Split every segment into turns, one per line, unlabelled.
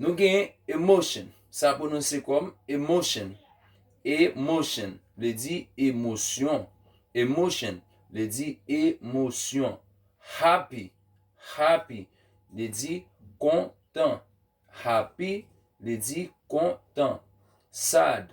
Nou gen emotion, sa pwononse kòm emosyon, e motion vle di emosyon, emotion vle di emosyon. Happy, happy vle di kontan, happy vle di kontan. Sad.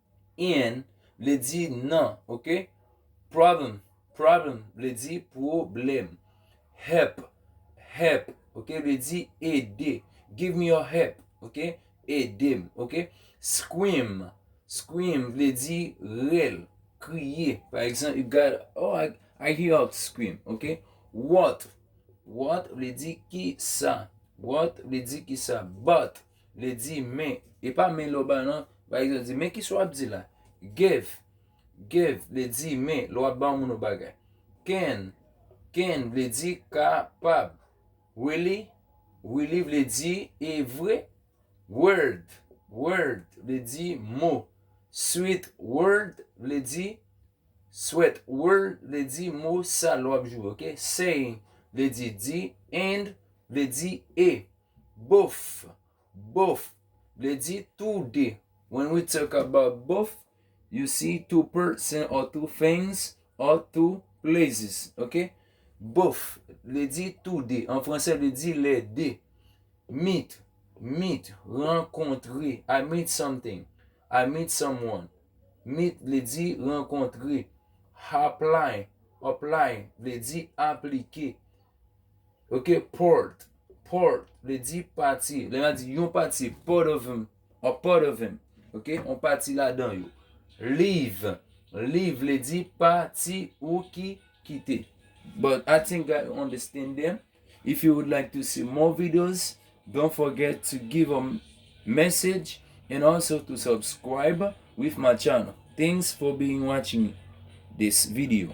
in vle di nan, ok? Problem, problem vle di pwoblèm. Help, help, ok, vle di ede. Give me your help, ok? Ede m, ok? Scream, scream vle di rèl, kriye. Pa egzanp, you got, oh, I hear her scream, ok? What, what vle di ki sa. What vle di ki sa. But, Le di men, e pa men lè w ba nan, pa egzanp di men kisa w ap di la. Give, give vle di men lè w ap ba yon moun yon bagay. Can, can vle di kapab. Really, really vle di e vre. Word, word vle di mo. Sweet word vle di sweat word vle di mo sa lè w ap jwe. Saying vle di di and vle di e. Both, Both, vle di tou de. When we talk about both, you see two person or two things or two places. Ok? Both, vle di tou de. An franse vle di le de. Meet, Meet, rankontre. I meet something. I meet someone. Meet vle di rankontre. Apply, Apply, vle di aplike. Ok, part, part, vle di pati. Lè nan di yon pati, part of him, a part of him. Ok, yon pati ladan yo. Leave, leave vle di pati ou ki kite. But I think that you understand them. If you would like to see more videos, don't forget to give a message and also to subscribe with my channel. Thanks for being watching this video.